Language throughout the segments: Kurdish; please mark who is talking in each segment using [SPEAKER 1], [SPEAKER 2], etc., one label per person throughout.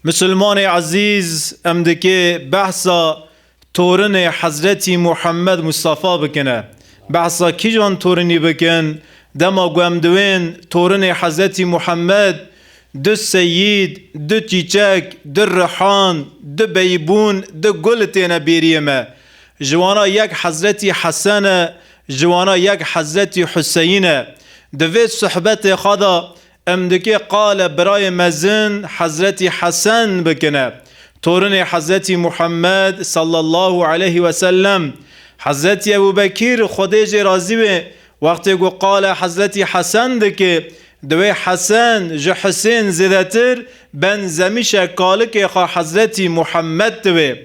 [SPEAKER 1] Musulmanê ezîz em dikê behsa torinê Hezretî Muhammed Mustafa bikine. Behsa kîjan torinî bikin? Dema ku em diwên torinê Hezretî Muhammed, du seyîd, du çîçek, du rihan, du beybûn, du gul têne bêriyê me. Ji wana yek Hezretî Hesen e, ji wana yek Hezretî Huseyîn e. Di vê suhbetê xwe de Em dikê qale birayê mezin Hezretî Hesen bikine, torinê Hezretî Muhammed sallallahu aleyh ve sellem. Hezretî Ebû Bekîr Xwedê jê razî bê wextê ku qale Hezretî Hesen dikê, diwê Hesen ji Husên zêdetir ben zemîşe kalikê xwe Hezretî Muhammed diwê.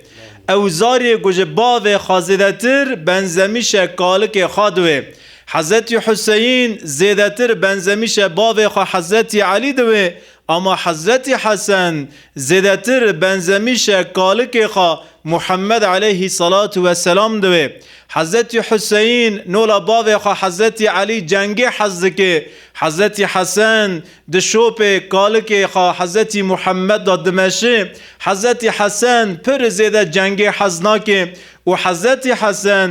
[SPEAKER 1] Ew zarê ku ji bavê xwe zêdetir ben zemîşe kalikê xwe diwê. Hezetî Huseyîn zêdetir benzemîşe bavê xwe Hezetî Elî diwê, ama Hezetî Hesen zêdetir benzemîşe kalikê xwe Muhemmed eleyhî selatu we selam diwê. Hezetî Huseyîn nola bavê xwe Hezetî Elî cengê hez dike, Hezetî Hesen di şopê kalikê xwe Hezetî Muhemmed de dimeşe, Hezetî Hesen pir zêde cengê hez nake û Hezetî Hesen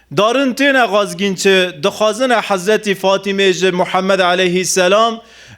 [SPEAKER 1] Darin têne xazgîn çi dixwazine Hezretî Fatîmê ji Muhemmed eleyhî selam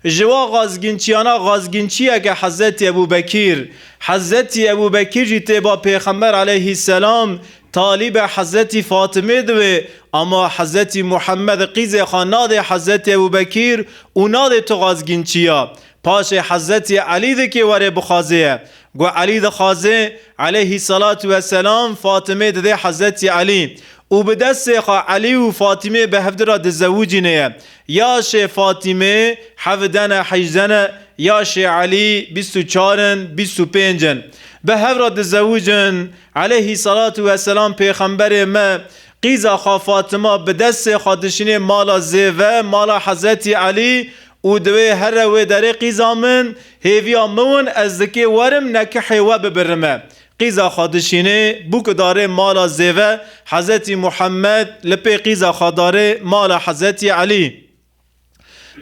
[SPEAKER 1] ji wa xazgînçiyana xazgînçiyeke Hezretî Ebû Bekîr. Hezretî Ebû Bekîr jî tê ba Pêxember eleyhî selam talî be Hezretî Fatîmê dibe ama Hezretî Muhemmed qîzê xwe nadê Hezretî Ebû Bekîr û nadê tu xazgînçiya paşê Hezretî Elî dikê were bixwazê ye Ku Elî dixwaze eleyhîsselatu wesselam Fatime dide Hezretî Elî û bi destê xwe Elî û Fatîmeyê bi hevdî re dizewicîne ye. Ya şê Fatîme hevde ne, hejde ne, ya şê Elî bîst û çar in, bîst û pênc in. Bi hev re dizewicin. Eleyhîsselatu wesselam Pêxemberê me qîza xwe Fatime bi destê xwe dişînê mala zêve, mala Hezretî Elî Û divê here wê derê qîza min, hêviya miwin ez dikê werim nekihê we bibirime. Qîza xwe dişînê, bûk darê mala zêve, Hezetî Muhemmed li pê qîza xwe darê mala Hezetî Elî.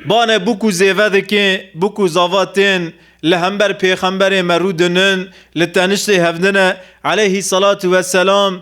[SPEAKER 1] Bane bûk û zêve dikê, bûk û zava tên li hember pêxemberê me rû dinin, li teniştê hevdine, Eleyhî Selatû Weselam,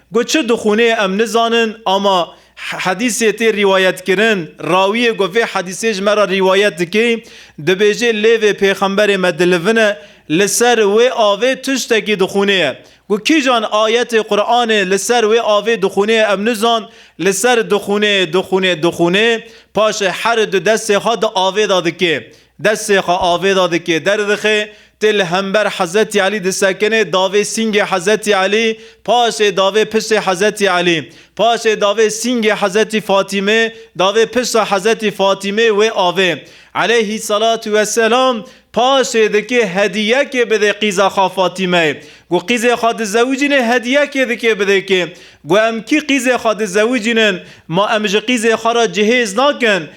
[SPEAKER 1] Got çi dixwînê em nizanin ama hedîsê tê rîwayetkirin, rawiyê ku vê hedîsê ji me re rîwayet dike dibêje lê vê pêxemberê me dilivin e, li ser wê avê tiştekî dixwînê ye. Ku kîjan ayetê Quranê li ser wê avê dixwînê em nizan, li ser dixwînê, dixwînê, dixwînê, paşê her du destê xwe di avê de dike. Destê xwe avê de dike, derdixe, tê li hember Hezretî Elî disekinê, davê sîngê Hezretî Elî, paşê davê piştê Hezretî Elî, paşê davê sîngê Hezretî Fatîmê, davê pişta Hezretî Fatîmê wê avê, eleyhî selatû we selam, paşê dike hedîyekê bidê qîza xwe Fatîmeyê, gu qîzê xwe dizewicînê hedîyekê dike bidê kê, gu em kî qîzê xwe dizewicînin, ma em ji qîzê xwe re cihêz nakin,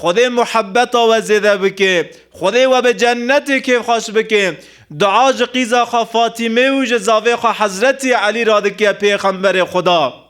[SPEAKER 1] Xwedê muhebbeta we zêde bike. Xwedê we bi cennetê kêfxweş bike. Dua ji qîza xwe Fatîmê û ji zavê xwe Hezretî Elî re dike Pêxemberê Xweda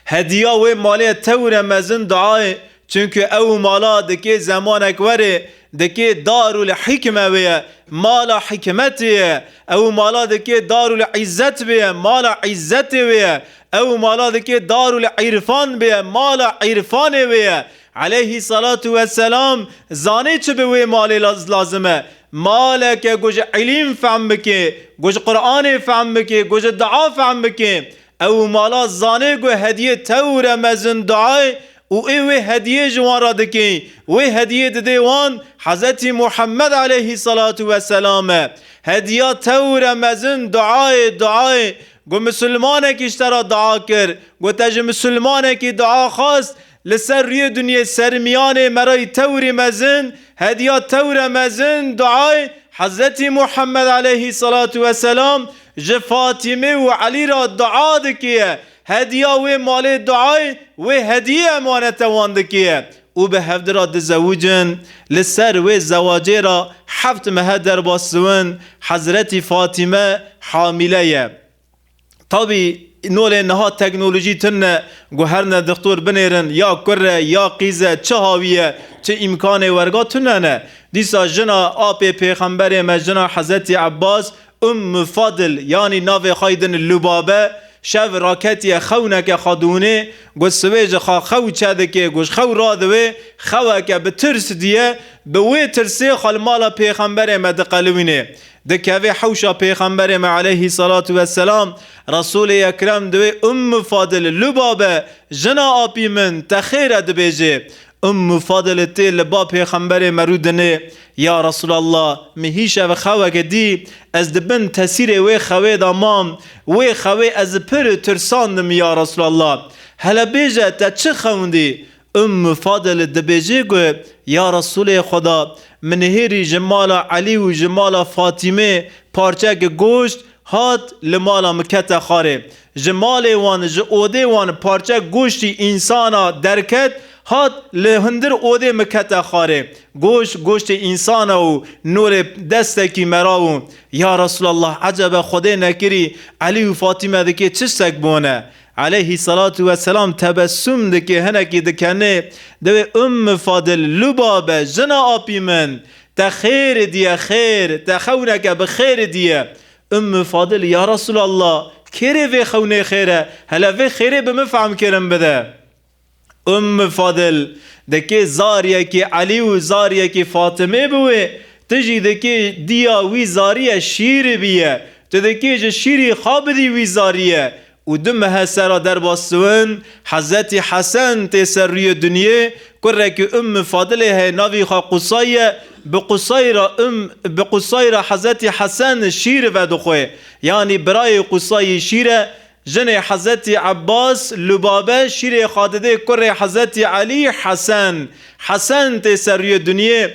[SPEAKER 1] hediya wê malê tewre mezin duayê çunku ew mala dikê zemanek were dikê darul hîkme bêye mala hîkmetê ye ew mala dikê darul îzzet bêye mala îzzetê bêye Ew mala dikê Darul Îrfan bêye, mala îrfanê wê ye. Eleyhî selatu we selam zanê çi bi wê malê lazim e. Maleke ku ji îlîm fehm bikê, ku ji Quranê fehm bikê, ku ji dua fehm bikê. Ew mala zanê ku hediyê tewr e mezin duayê û ê wê hediyê ji wan re dikê. Wê hediyê didê wan Hezetî Muhammed eleyhî selatu we selam e. Hediya tewr e mezin duayê, duayê. Ku misilmanekî ji te re dua kir, ku te ji misilmanekî dua xwest, li ser rûyê dinyê sermiyanê merayî tewrî mezin, hediya tewre mezin, duayê Hezretî Muhammed aleyhî selatû we selam ji Fatîmê û Elî re dua dikiye, hediya wê malê duayê wê hediyê emanete wan dikiye. û bi hevdi ra dizewicin, li ser wê zewacê ra heft mehe derbas ziwin, Hezretî Fatîme hamîle ye. Tabî nolê niha teknolojî tune, guherine dixtor binêrin ya kur e ya qîz e, çi hawî ye, çi îmkanê werga tune ne. Dîsa jina apê pêxemberê me, jina Hezretî Ebbas Umm Fadil yanî navê xwe din Lubabe şev raketiye xewneke xwe dûnê got siwê ji xwe xew çedikê ku ji xew radiwê xeweke bi tirs diye bi wê tirsê xwe li mala pêxemberê me diqelwînê dikevê hewşa pêxemberê me eleyhî selatu weselam Resûlê ekrem di wê Umm Fadil Lubabe jina apî min te xêr e dibêjê Umm Fadil tê li ba pêxemberê me rû dinê Ya Resûlallah! Min hîş ev xeweke dî, ez di bin tesîrê wê xewê de mam, wê xewê ez pir tirsandim ya Resûlallah! Hele bêje te çi xewindî? Ummû Fadil dibêje ku ya Resûlê Xweda! Min hêrî ji mala Elî û ji mala Fatîmê parçeke goşt Hat li mala min kete xwarê. Ji malê wan, ji odê wan parçe goştî însana derket, hat li hundir odê min kete xwarê. Goşt, goştê însana û norê destekî merav û Ya Resûlallah ecebe Xwedê nekirî Elî û Fatîme dikê çi ştek bone? Eleyhî selatu we selam tebessum dikê hinekî dikenê dewê Umm Fadil Lubabe jina apî min Te xêrê diye xêr, te xewneke bi xêrê diye. Ümmü Fadıl, Ya Resûlallah! Kêrê vê xewnê xêr e? Hele vê xêrê bi min fehm kirin bide. Ümmü Fadıl, Dikê zariyekî Elî û zariyekî Fatımê bi wê, tu jî dikê diya wî zariye şîrî biye. Tu dikê ji şîrî xwe bidî wî zariye. Û du mehe sera derbas siwin, Hezretî Hesen tê ser rûyê dunyê, kurekî Umm Fadilê heye navî xwe Qusay ye, bi Qusay re Umm, bi Qusay re Hezretî Hesen şîr vedixwe, yanî birayê Qusayî şîr e, jinê Hezretî Ebbas, Lubabe, şîrê Xadidê kurê Hezretî Elî, Hesen. Hesen tê ser rûyê dunyê,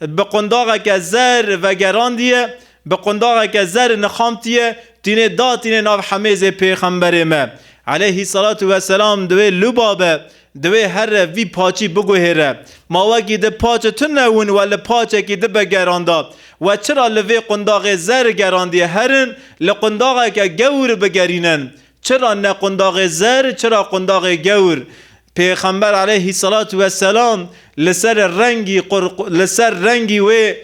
[SPEAKER 1] Bi qundaxeke zer vegerandiye, bi qundaxeke zer nixamtiye, tînê da tînê nav hemêzê pêxemberê me, eleyhî selatû ve selam, di wê luba be, di wê herre vî paçî biguhêre. Ma wekî di paçi tu newin we li paçekî di be geranda. We çira li vê qundaxê zer gerandiye herin li qundaxeke gewr bigerînin. Çira ne qundaxê zer, çira qundaxê gewr. Pêxember aleyhî selatû we selam li ser rengî li ser rengî wê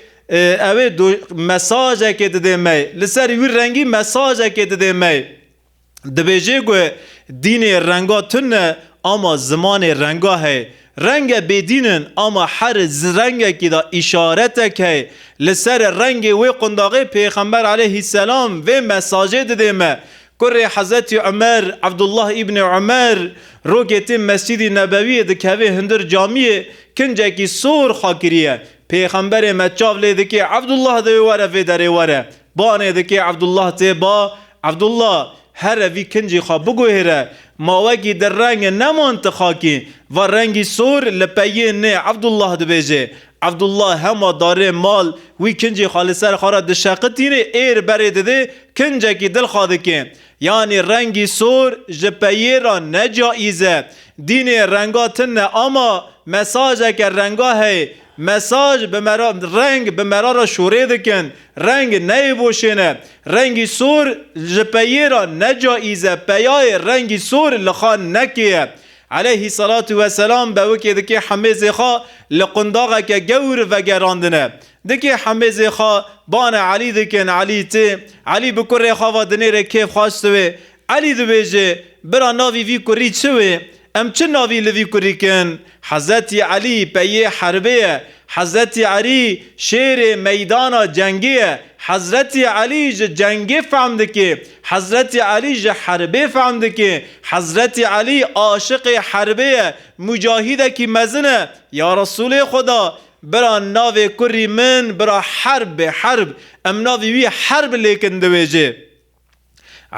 [SPEAKER 1] ew ê mesajekê didê me, li ser wî rengî mesajekê didê me. Dibêjê ku dînê renga tun e ama zimanê renga heye. Renge bêdîn in ama her rengekî de îşaretek heye. Li ser rengê wê qundaxê Pêxember aleyhî selam vê mesajê didê me Kurê Hezretî Umer, Abdullah Îbnê Umer, rokê tê Mescîdî Nebewîyê dikeve hundir camîyê kincekî sor xwe kirîye. Pêxemberê me çav lê dikê Abdullah dê were vê derê were. Banê dikê Abdullah tê ba, Abdullah! Here vî kincî xwe biguhêre. Ma wekî di renge neman ti xakî. Va rengî sor li peyê nê Abdullah dibêjê. Evdullah hema darê mal wî kincî xwe li ser xwe re dişeqitînê ê li berê didê kincekî dil xwe dikê. Yanî rengî sor ji peyê re ne caîz e. Dînê renga tin ne ama mesajeke renga heye. Mesaj bi mera reng bi mera re şorê dikin. Reng neyê voşên e. Rengî sor ji peyê re ne caîz e. Peyayê rengî sor li xwe nekê ye. Eleyhî selatû we selam bewikê dikê Hemêzê xwe li qundaxeke gewr vegerandine. Dikê Hemêzê xwe bane Elî dikin, Elî tê. Elî bi kurê xwe ve dinêre kêf xweş diwê. Elî dibêje, Bira navî vî kurî çi wê? Em çi navî li vî kurî kin? Hezretî Elî peyê herbê ye. Hezretî Erî şêrê meydana cengê ye. Hezretî Elî ji cengê fehm dikê. Hezretî Elî ji herbê fehm dike. Hezretî Elî aşiqê herbê ye, mucahîdekî mezin e, Ya Resûlê Xweda! Bira navê kurrî min bira Herb be, Herb. Em navê wî Herb lêkin dibêjê.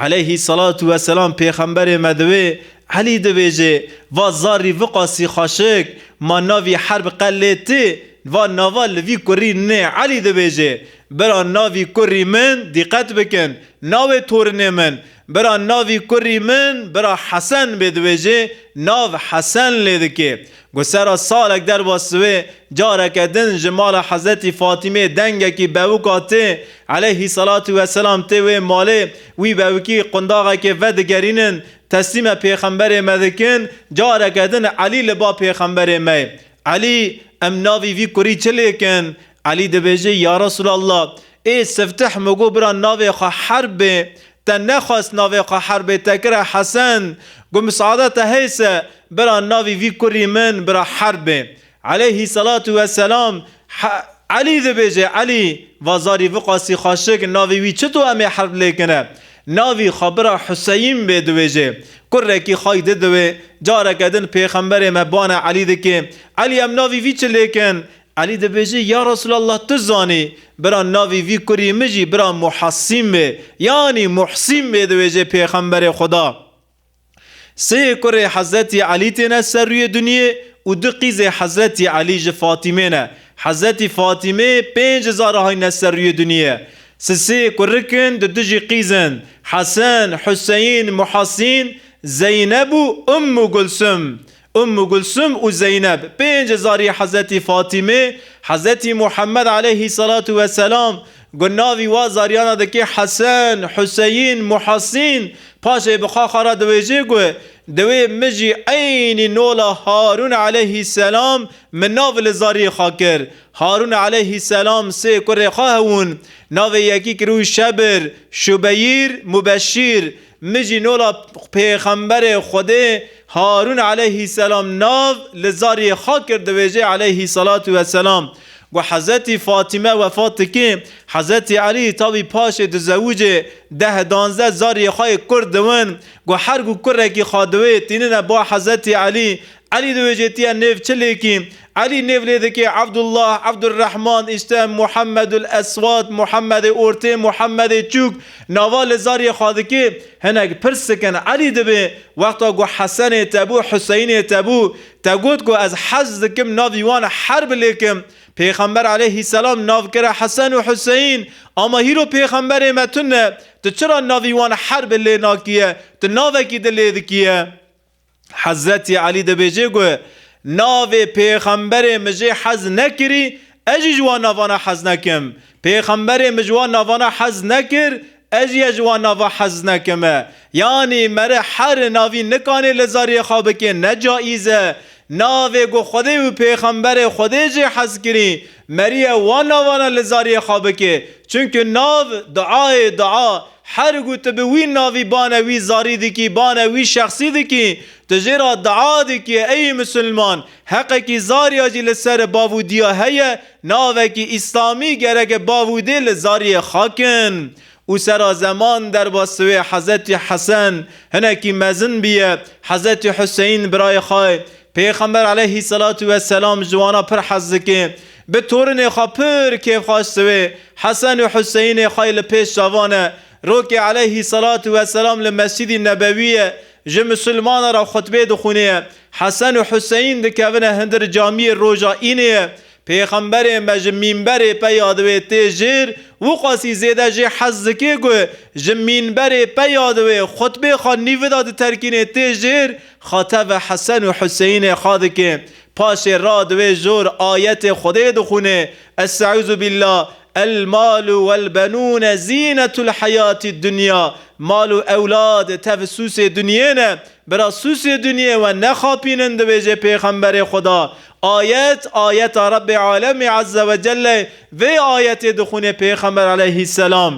[SPEAKER 1] Eleyhî selatû we selam pêxemberê me diwê, Elî dibêjê, Va zarrî viqasî xweşik, ma navî Herb qe lê tê, va nava li vî kurrî nê, Elî dibêjê. Bira navî kurrî min dîqet bikin navê torinê min bira navî kurrî min bira Hesen bê di wê jê nav Hesen lê dikê. Ku sera salek derba siwê careke din ji mala Hezretî Fatîmê dengekî bewika tê eleyhî selatû we selam tê wê malê wî bewikî qundaxekê vedigerînin teslîme pêxemberê me dikin careke din Elî li ba pêxemberê mey Elî em navî vî kurrî çi lêkin Elî dibêje, Ya Resûlallah! Ê Siftih min got bira navê xwe Herb bê. Te nexwest navê xwe Herb bê, te kire Hesen. Got Mis'ada te hês e, bira navê vî kurî min bira Herb bê. Eleyhî selatû we selam, Elî dibêje, Elî! Va zarî viqasî xaşik, navê wî çito em ê Herb lê kine? Navê xwe bira Huseyîn bê dibêje. Kurekî xay di diwê. Careke din pêxemberê me bane Elî dikê. Elî em navê vî çi lê kin? Elî dibêje, Ya Resûlallah tu zanî bira navî vî kurî min jî bira Muhesîm be yanî Muhsîm bê diwêje Pêxemberê Xweda sê kurê Hezretî Elî têne ser rûyê dunyê û du qîzê Hezretî Elî ji Fatîmê ne. Hezretî Fatîmê pênc hizar hayne ser rûyê dunyê. Sisê kurik in di du jî qîz in Hesen, Huseyîn, Muhesîn, Zeyneb û Ummû Gulsum. Ummu Gulsum û Zeyneb, pênc zarî Hezretî Fatîmê, Hezretî Muhemmed aleyhî selatu we selam, ku navî wan zariyan a dikê Hesen, Huseyîn, Muhasîn, paşê bi xwe xwe re diwêjê ku, Diwê min jî eynî nola Harûn aleyhî selam min nav li zariyê xwe kir. Harûn aleyhî selam sê kurê xwe hebûn. Navê yekî kiribû Şebir, Şubeyîr, Mubeşîr. Min jî nola pêxemberê Xwedê Harûn aleyhîsselam nav li zariyê xwe kir dibêje aleyhîsselatu wesselam. Ku Hezretî Fatîme wefat dike, Hezretî Elî tavî paşê dizewicê, deh danzdeh zariyê xwe yê kurd diwin. Ku her ku kurekî xwe diwê tînine ba Hezretî Elî. Elî dibêje tu yê nêv çi lêkî? Elî nêv lê dike, Evdullah, Evdurehman, Îstem, Muhemedul Eswat, Muhemedê Ortê, Muhemedê Çûk, nava li zariyê xwe dike. Hinek pirs dikin, Elî dibe? Wexta ku Hesenê te bû, Huseyinê te bû, te got ku ez hez dikim navî wan her bi lê kim. Pêxember eleyhîsselam nav kire Hesen û Huseyîn. Ama hîro pêxemberê me tu ne. Tu çira navî wan her bi lê nakiye? Tu navekî di lê dikiye? Hezretî Elî dibêje ku navê pêxemberê min jê hez nekirî, ez jî ji wan navana hez nekim. Pêxemberê min ji wan navana hez nekir, ez jî ya ji wan nava hez nekime. Yanî mere her navî nikanê li zariyê xwe bikê ne caîz e. Navê ku Xwedê û pêxemberê Xwedê jê hez kirî, meriye wan navana li zariyê xwe bikê. Çimkî nav duayê dua, Her ku tu bi wî navî bane wî zarî dikî, bane wî şexsî dikî, tu jê re dua dikî ey musulman, heqekî zarîya jî li ser bav û diya heye, navekî îslamî gereke bav û dê li zarîyê xakin û sera zeman derbas wê Hezetî Hesen hinekî mezin biye, Hezetî Huseyîn birayê xwe, Pêxember eleyhî selatû weselam ji wana pir hez dike, Bi torinê xwe pir kêfxweş siwê Hesen û Huseyinê xwe yê li pêş çavan e. Rokê eleyhî selatû we selam li Mescîdî Nebewîyê ji misilmanan re xutbê dixwînê. Hesen û Huseyîn dikevine hindir camîyê roja Înê. Pêxemberê me ji mînberê peya diwê tê jêr û qasî zêde jê hez dikê ku ji mînberê peya diwê xutbê xwe nîvida diterkînê tê jêr xwe teve Hesen û Huseyinê xwe dikê Paşê ra di wê jor ayetê Xwedê dixwînê, Est'ûzubîllah, El-malu wel-benûne zînetulheyatî'd-dunya, Mal û ewlad tev sûsê dunyê ne, bira sûsê dunyê we nexapînin dibêje Pêxemberê Xweda, ayet, ayeta Rebbê Alemî Ezzewecelle, vê ayetê dixwînê Pêxember Eleyhîsselam.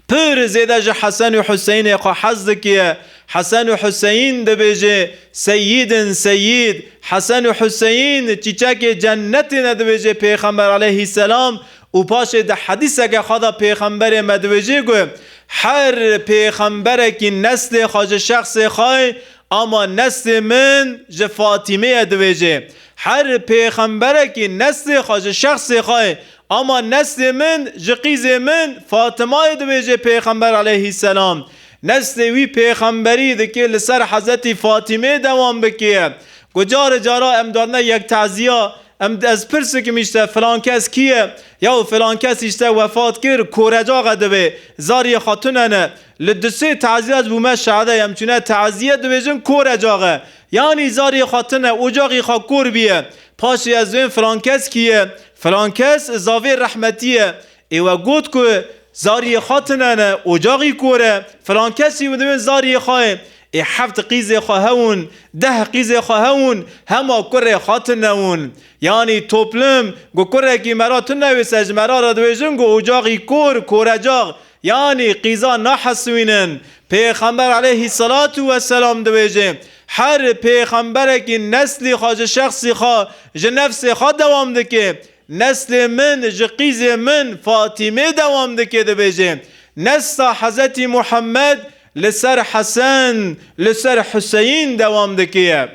[SPEAKER 1] Pir zêde ji Hesen û Huseynê xwe hez dikiye. Hesen û Huseyn dibêjê Seyyîd in Seyyîd. Hesen û Huseyn çîçekê cennetê ne dibêjê Pêxember aleyhîsselam û paşê di hedîseke xwe de Pêxemberê me dibêjê ku Her pêxemberekî neslê xwe ji şexsê xwe ye ama neslê min ji Fatîmê ye dibêjê Her pêxemberekî neslê xwe ji şexsê xwe ye Ama neslê min ji qîzê min Fatimayê dibêje pêxember aleyhîsselam. Neslê wî pêxemberî dike li ser Hezetî Fatimeyê dewam bike. Ku carê cara em dadine yek teziya, em ez pirs bikim îşte filan kes kî ye? Yaw filan kes îşte wefat kir, korecaxe dibe, zariyê xatune ne. Li du sê teziya ez bûme şahide em çune teziye dibêjin korecaxe. Yanî zariyê xatune ocaxî xwe kor bîye. Paşê ez bên Frankeskî ye. Frankes zavê rehmetî ye. Ê we got ku zariyê xwe tune ne, ocaxî kor e. Frankesî di bên zariyê xwe ye. Ê heft qîzê xwe hewin, deh qîzê xwe hewin, hema kurê xwe tune win. Yanî toplum ku kurekî me ra tune wê se ji me ra re dibêjin ku ocaxî kor, korecax. Yanî qîza naheswînin. Pêxember eleyhî selatu we selam dibêje, Her pêxemberekî neslê xwe ji şexsê xwe, ji nefsê xwe dewam dike. Neslê min ji qîzê min Fatîmê dewam dike dibêje, Nesla Hezetî Muhemmed li ser Hesen, li ser Huseyîn dewam dike ye.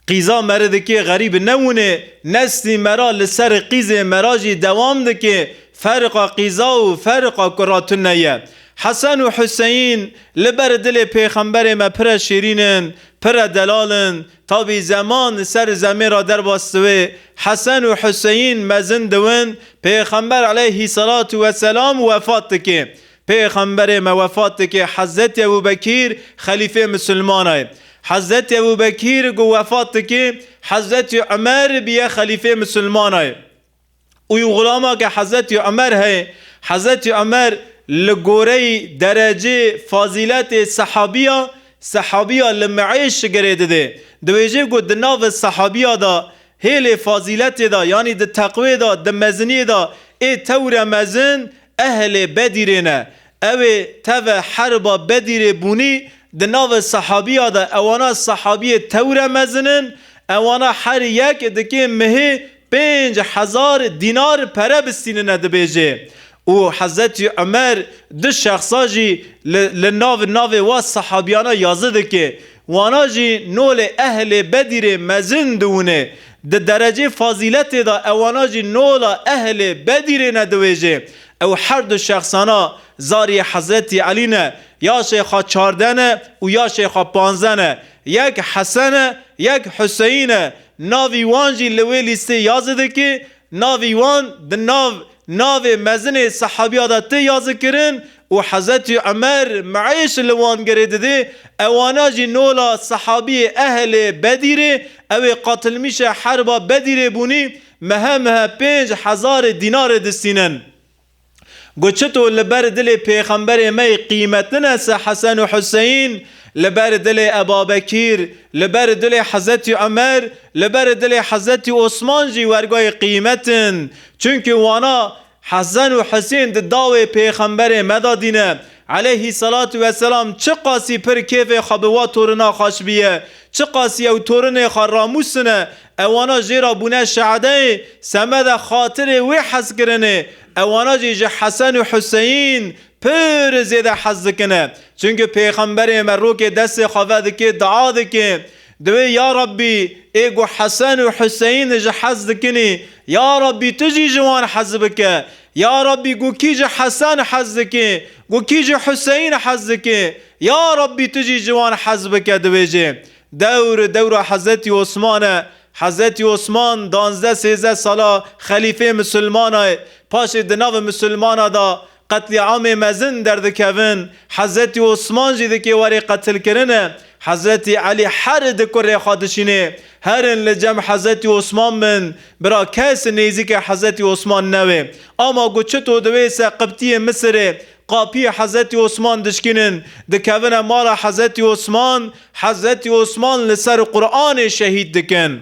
[SPEAKER 1] Qîza meridikê xerîb nebûnê, neslî mera li serê qîzê mera jî dewam dikê, feriqa qîza û feriqa ku ra tune ye. Hesen û Huseyîn li ber dilê pêxemberê me pire şîrîn in, pire delal in. Tabî zeman li ser zemê ra derbas diwê, Hesen û Huseyîn mezin diwin, pêxember eleyhî selatû weselam wefat dikê. Pêxemberê me wefat dike Hezretî Ebû Bekîr xelîfê misilmana ye. Hezretî Ebû Bekîr ku wefat dike Hezretî Umer bîye xelîfê misilmana ye. Uyu xulama ke Hezretî Umer heye. Hezretî Umer li goreyî derecê, fazîletê sehabîya, sehabîya li meêş girê dide. Diwêje ku di navi sehabîya de hêlê fazîletê de yanî di teqwê de, di meziniyê de ê tewre mezin Ehlê Bedîrê ne. Ewê teve heriba Bedîrê bûnî, di navê sehabîya de ewana sehabîyê tewre mezin in, ewana her yek dikê mihê pênc hezar dînar pere bistînine dibêjê. Û Hezretî Umer du şexsa jî li li nav navê wa sehabîyana yazı dikê. Wana jî nolê ehlê Bedîrê mezin diwinê. Di derecê fazîletê de ewana jî nola ehlê Bedîrê ne diwêjê. Ew her du şexsana zariyê Hezretî Elî ne. Ya Şeyxa Çarde ne û ya Şeyxa Panze ne. Yek Hesen e, yek Huseyîn e. Navî wan jî li wê lîstê ya zidikê Navî wan di nav navê mezinê sehabîya de tê yazikirin û Hezretî Umer meîş li wan gerê didê, ewana jî nola sehabîyê ehlê Bedîrê, ew ê qatilmîşê herba Bedîrê bûnî, mehe mehe pênc hezarê dînarê distînin. Ku çito li ber dilê pêxemberê me yê qîmetine se Hesen û Huseyîn, li ber dilê Ebabekîr, li ber dilê Hezretî Umer, li ber dilê Hezretî Osman jî wergayê qîmet in. Çimkî wana Hesen û Husên di dawê pêxemberê me de dîne, eleyhî selatû we selam, çiqasî pir kêfê xwe bi wa torina xwe şibîye, çiqasî ew torinê xwe ramûsine, Ewana jê re bûne şehedeyê semeda xatirê wê hez kirinê. Ewana jî ji Hesen û Huseyîn pir zêde hez dikine. Çimkî pêxemberê me rokê destê xwe vedikê dua dike. Diwê ya Rabbî ê ku Hesen û Huseyîn ji hez dikinî, ya Rabbî tu jî ji wan hez bike. Ya Rabbî ku kî ji Hesen hez dike, ku kî ji Huseyîn hez dike, ya Rabbî tu jî ji wan hez bike dibêje. Dewr dewra Hezretî Osman e. Hezretî Osman danzdeh sêzdeh sala xelîfê misilmana ye. Paşê di navê misilmana da qetlîamê mezin derdikevin. Hezretî Osman jî dikê werê qetilkirin e. Hezretî Elî her di kurê xwe dişînê. Herin li cem Hezretî Osman bin. Bira kes nêzîkê Hezretî Osman newê. Ama ku çito di wê seqiptiyê Misirê Qapiyê Hezretî Osman dişkînin, dikevine mala Hezretî Osman, Hezretî Osman li ser Quranê şehîd dikin.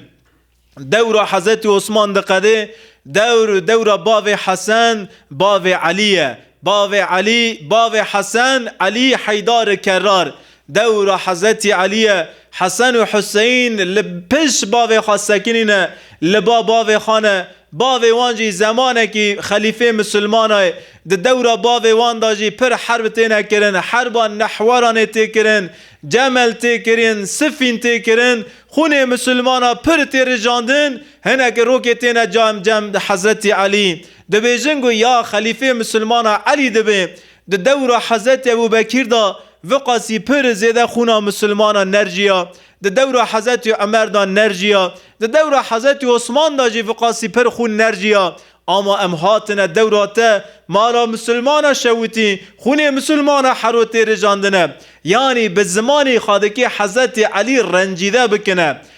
[SPEAKER 1] Dewra Hezretî Osman diqedê, dewr dewra bavê Hesen, bavê Elî ye. Bavê Elî, bavê Hesen, Elî Heydari Kerrar. Dewra Hezretî Elîye, Hesen û Huseyîn li pişt bavê xwe sekinî ne, li ba bavê xwe ne, bavê wan jî zemanekî xelîfê misilmana ye. Di dewra bavê wan de jî pir herb têne kirin, herba Nehweranê tê kirin, Cemel tê kirin, Sifîn tê kirin, xûnê misilmana pir tê rijandin, hinekî rokê têne cem cem Hezretî Elî. Dibêjin ku ya xelîfê misilmana Elî dibe, Di dewra Hezretî Ebûbekîr de viqasî pir zêde xûna misilmanan nerjîya, di dewra Hezretî Umer de nerjîya, di dewra Hezretî Osman de jî viqasî pir xûn nerjîya. Ama em hatine dewra te mala misilmana şewitî, xûnê misilmana herotê rijandine. Yanî bi zimanê xadikê Hezretî Elî rencîde bikine.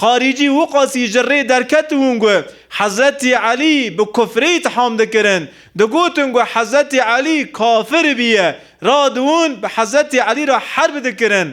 [SPEAKER 1] Xaricî Wuqasî ji rê derket û got, Hezretî Elî bi kufrê îtham dikirin. Digotin ku Hezretî Elî kafir bûye. Radiwûn bi Hezretî Elî re herb dikirin.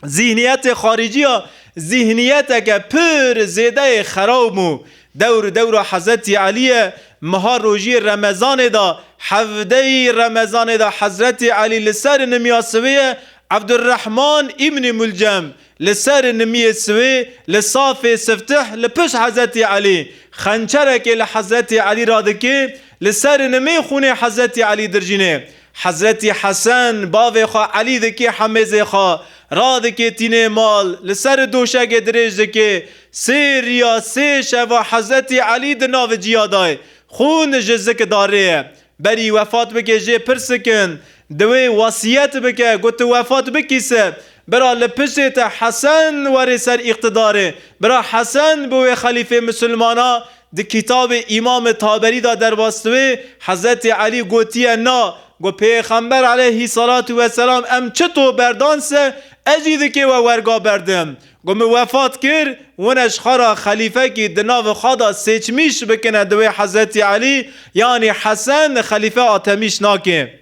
[SPEAKER 1] Zîhniyetê xaricî ya zîhniyeteke pir zêdeyê xerab bû. Dewr dewra Hezretî Elî ye. Meha rojiyê remezanê de, hevdeyî remezanê de Hezretî Elî li ser nimya sivê ye, Ebdurehman Îbnî Mulcem, Li ser nimiyê siwê li safê siftih li pişt Hezretî Elî xençerekê li Hezretî Elî re dikê, li ser nimê xûnê Hezretî Elî dirjînê. Hezretî Hesen bavê xwe Elî dikê hemêzê xwe, radikê tînê mal, li ser doşegê dirêj dikê. Sê riya sê şeva Hezretî Elî di naviciya dayê. Xûn ji zik darê ye. Berî wefat bike jê pirsik in. Di wê wesiyet bike ku tu wefat bikî se. Bira li piştê te Hesen were ser îqtidarê. Bira Hesen bi wê xelîfê misilmana di kitabê Îmam Taberî da derbas di wê Hezretî Elî gotiye na ku pêxember eleyhî selatû weselam em çi to berdan se ez jî dikê we werga berdim. Ku min wefat kir, wine ji xwe re xelîfekî di nav xwe de sêçmîş bikine di wê Hezretî Elî yanî Hesen xelîfe a temîş nake.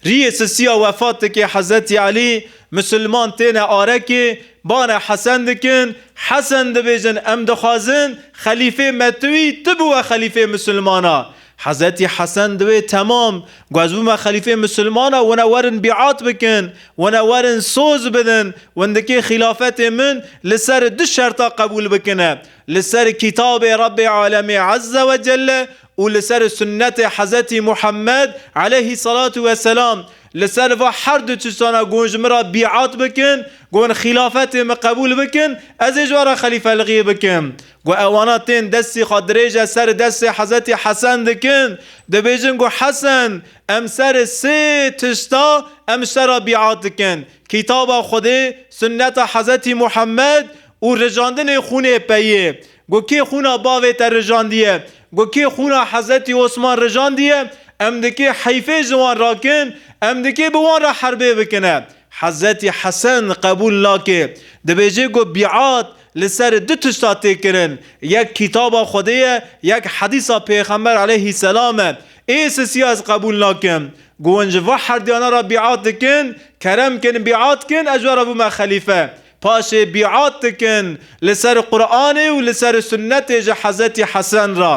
[SPEAKER 1] Rîyê sisiya wefat dike Hezretî Elî, Misilman têne arekê, bane Hesen dikin, Hesen dibêjin em dixwazin xelîfê me tu î, tu biwe xelîfê misilmana. Hezretî Hesen divê Temam, ku ez bûme xelîfeyê misilman e, wina werin bîat bikin, wina werin soz bidin, windikê xîlafetê min li ser du şerta qebûl bikine, li ser Kîtabê Rebbê Alemê Ezze we Celle û li ser Sunnetê Hezretî Muhemmed Eleyhî Selatu we Selam. Li ser va her du çizana ku hûn ji min re bîat bikin, ku hûn xîlafetê min qebûl bikin, ez ê ji we re xelîfeligî bikim. Ku ewana tên destê xwe dirêje serê destê Hezretî Hesen dikin, dibêjin ku Hesen, em serê sê tişta em ji te re bîat dikin, Kitaba Xwedê, Sunneta Hezretî Muhemed û rijandinê xûnê peyê. Ku kê xûna bavê te rijandiye, ku kê xûna Hezretî Osman rijandiye, em dikê heyfê ji wan rakin, em dikê bi wan re herbê bikine. Hezretî Hesen qebûl nake. Dibêje ku bîat Li ser du tişta tê kirin, yek Kitaba Xwedê ye, yek Hedîsa Pêxember aleyhî selam e. Ê sisiya ez qebûl nakim. Ku hûn ji va herduyana re bîat dikin, kerem kin bîat kin ez ji we re bûme xelîfe. Paşê bîat dikin li ser Quranê û li ser Sunnetê ji Hezretî Hesen re.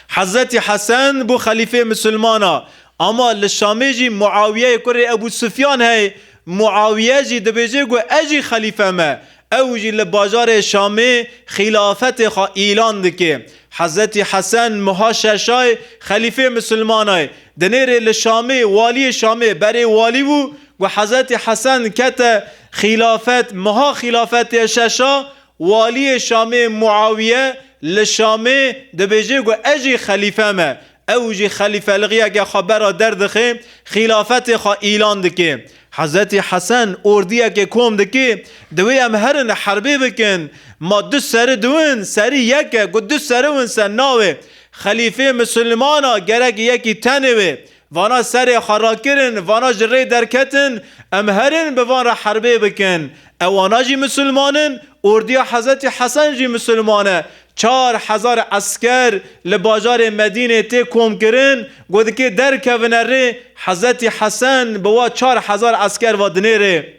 [SPEAKER 1] Hezretî Hesen bû xelîfeyê misilmana ama li Şamê jî Muawiyeyê kurê Ebû Sufyan heye. Muawiye jî dibêje ku ez jî xelîfe me. Ew jî li bajarê Şamê xîlafetê xwe îlan dike. Hezretî Hesen meha şeşay xelîfeyê misilmana ye. Di nêrê li Şamê waliyê Şamê berê walî bû ku Hezretî Hesen kete xîlafet. Meha xîlafetê şeşa Waliyê Şamê Muawiye li Şamê dibêje ku ez jî xelîfe me. Ew jî xelîfelixiyeke xwe bera der dixe, xîlafetê xwe îlan dike. Hezretî Hesen ordiyekê kom dike, Divê em herin herbê bikin. Ma du seri du in, serî yek e, ku du seri win ser navê. Xelîfê Mislimana gerek yekî tenê be. Vana serê xwe rakirin, vana ji rê derketin, em herin bi van re herbê bikin. Ewana jî misilman in, ordiya Hezretî Hesen jî misilman e. Çar hezar esker li bajarê Medînê tê komkirin, ku dikê derkevine rê, Hezretî Hesen bi wa çar hezar esker ve dinê rê.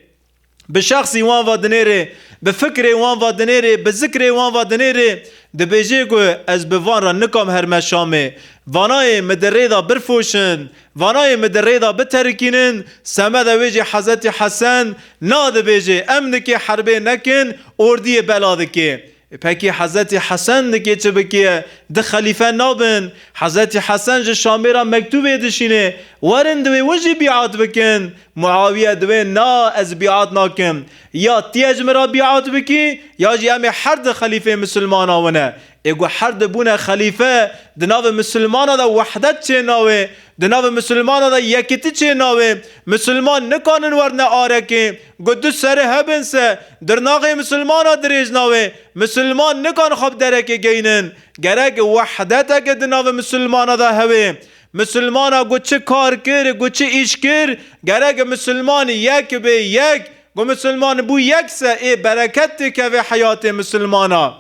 [SPEAKER 1] Bi şexsî wan va dinêrê, bi fikirê wan va dinêrê, bi zikirê wan va dinêrê, dibêjê ku ez bi van re nikam herme Şamê. Vanayê mi di rê de birfoşin, vanayê mi di rê de biterikînin, semeda wê jî Hezretî Hesen, na dibêjê, em nikê herbê nekin, ordiyê bela dikê. Peki Hezretî Hesen li kê çi bikiye? Di xelîfe nabin. Hezretî Hesen ji Şamê re mektûbê dişînê, Werin divê win jî bîat bikin. Muawiye divê na ez bîat nakim. Ya tî ez ji min re bîat bikî ya jî em ê her di xelîfê misilmanan wine. Ê ku her di bûne xelîfe di navê misilmanan de wehdet çê nawê. Di navê misilmanan de yekitî çê nawê. Misilman nikanin werine arekê. Ku tu serê hebin se dirnaxê misilmana dirêj nawe, misilman nikan xwe bi derekê geynin. Gerek wehdeteke di navê misilmana de hebe. Misilmana ku çi kar kir, ku çi îş kir, gerek misilman yek bê, yek. Ku misilman bû yek se ê bereket dikeve heyatê misilmana.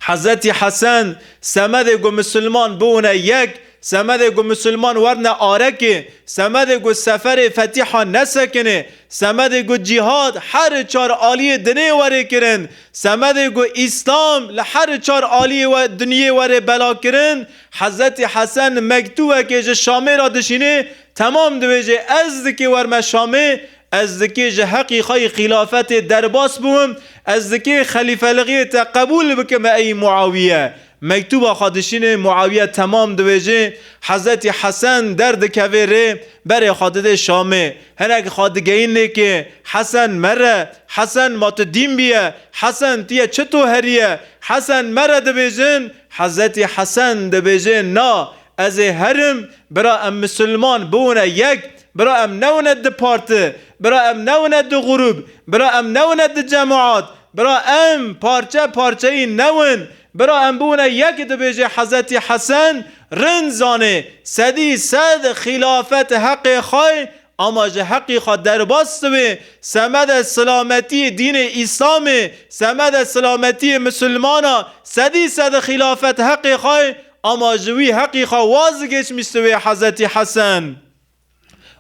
[SPEAKER 1] Hezetî Hesen, Semedê ku misilman biûne yek, semedê ku misilman werne arekê, semedê ku seferê fetîhan nesekinê, semedê ku cîhad heri çar aliyê dinê were kirin, semedê ku îslam li heri çar aliyê we dinyê were bela kirin, Hezetî Hesen mektûbekê ji Şamê re dişînê, temam dibêje ez dikê werme Şamê, Ez dikê ji heqî xwe yê xîlafetê derbas bûm, ez dikê xelîfeligiyê te qebûl bikim ey Muawiye. Mektûba xwe dişînê, Muawiye temam diwêjê, Hezretî Hesen derdikevê rê, berê xwe didê Şamê. Hinek xwe digeyîn lêkê, Hesen mere, Hesen ma tu dîn bîye, Hesen tu yê çi to herîye, Hesen mere dibêjin, Hezretî Hesen dibêjê na, ez ê herim, bira em misilman biwine yek, Bira em nebûne du parti, bira em nebûne du grûb, bira em nebûne du cemaat, bira em parçe parçeyî nebûn, bira em bûne yek dibêje Hezetî Hesen, rind zanê, sedî sed xîlafet heqê xwe ye ama ji heqî xwe derbas dibe, semede silametiyê dînê îslamê, semede silametiyê misilmana, sedî sed xîlafet heqê xwe ye ama ji wî heqî xwe waz digeşmîstibê Hezetî Hesen.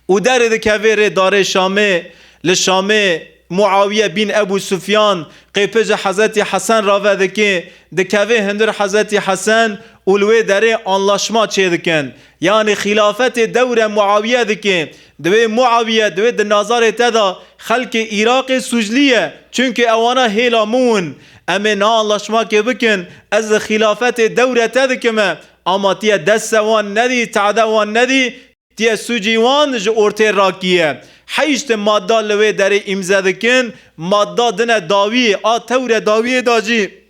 [SPEAKER 1] Û derê dikevê rê darê Şamê, li Şamê Muawiye bîn Ebû Sufyan qêpêja Hezretî Hesen ra vedike, dikevê hundir Hezretî Hesen û li wê derê anlaşma çêdikin. Yanî xîlafetê dewre Muawiye dike. Divê Muawiye divê di nazarê te de xelkê Îraqê sûclîye. Çunke ewana hêla min in. Em ê niha anlaşmakê bikin, ez li xîlafetê dewre te dikime, Ama tîye desse wan nedî, te'de wan nedî, tîye sûcî wan ji ortê rakîye. Heyşt madda li wê derê îmze dikin, madda din e dawîyê, a tewre dawîyê da jî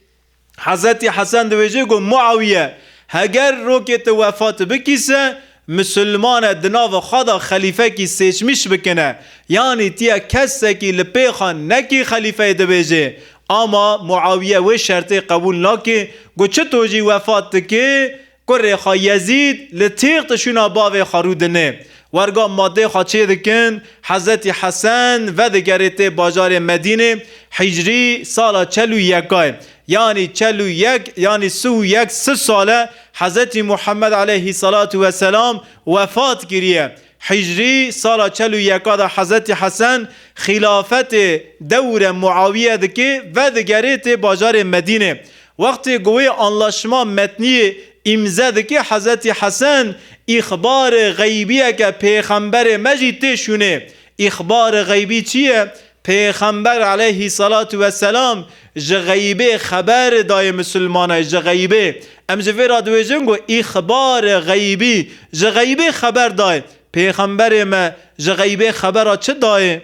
[SPEAKER 1] Hezretî Hesen diwêje ku Mu'awiye heger rokê ti wefat bikîse, Misilmane di nava xwe de xelîfekî seçmîş bikine, yanî tiya kesekî li pê xwe nekî xelîfeyê dibêjê. Ama Muawiye wê şertê qebûl nake ku çi to jî wefat dike, kurê xwe Yezîd li têxte şûna bavê xwe rû dine. Werga madê xwe çê dikin, Hezretî Hesen vedigere tê bajarê Medînê, hîcrî sala çel û yeka ye. Yanî çel û yek yanî sih û yek si sal e Hezretî Muhammed aleyhî selatu we selam wefat kiriye. Hîcrî sala çel û yeka de Hezretî Hesen xîlafetê dewre Muawiye dike vedigerê tê bajarê Medîne. Wextê ku wê anlaşma metniyê îmze dike Hezretî Hesen îxbarê xeybiyeke pêxemberê me jî tê şûnê. Îxbarê xeybî çi ye? Pêxember aleyhî selatû ve selam ji xeybê xeber dayê misilmanay ji xeybê. Em ji vê re dibêjin ku îxbare xeybî, ji xeybê xeber dayê. Pêxemberê me ji xeybê xebera çi dayê?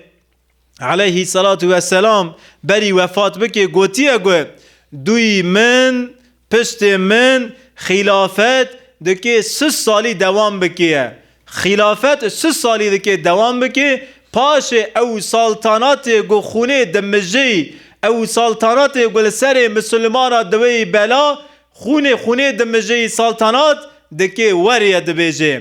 [SPEAKER 1] Aleyhî selatû ve selam berî wefat bikê gotiye ku, Dûyî min Piştê min xîlafet dikê sis salî dewam bikîe. Xîlafet sis salî dikê dewam bikê, paşê ew saltanatê ku xûnê dimijîy, ew saltanatê ku li serê misilmana diweyî bela, xûnê xûnê dimijîy saltanat dikê werîe dibêjê.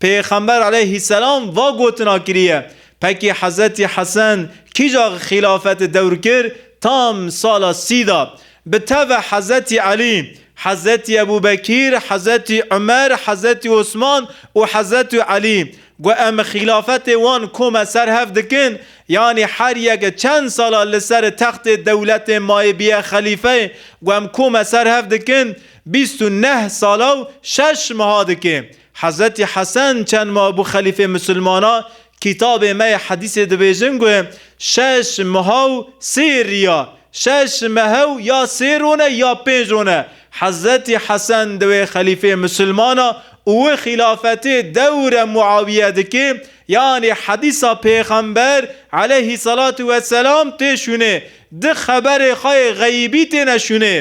[SPEAKER 1] Pêxember aleyhîsselam va gotina kiriye, Pekî Hezretî Hesen kîja xîlafetê dewr kir, tam sala sî de. Bi teve Hezretî Elî, Hezretî Ebû Bekîr, Hezretî Umer, Hezretî Osman û Hezretî Elî. Got em xîlafetê wan kom e ser hev dikin, yanî her yek çend sala li ser textê dewletê mayê bîye xelîfeyê, got em kom e ser hev dikin, bîst û neh sala û şeş meha dike. Hezretî Hesen çend mabû xelîfê misilmana kîtabê me yê hedîsê dibêjin ku şeş mehaw sê riya, şeş mehew ya sê rone ya pênc rone. Hezretî Hesen di wê xelîfê misilmana û wi xîlafetê dewre Muawiye dikê, yanî hedîsa pêxember eleyhî selatû weselam tê şûnê, di xeberê xwe yê xeybî têne şûnê.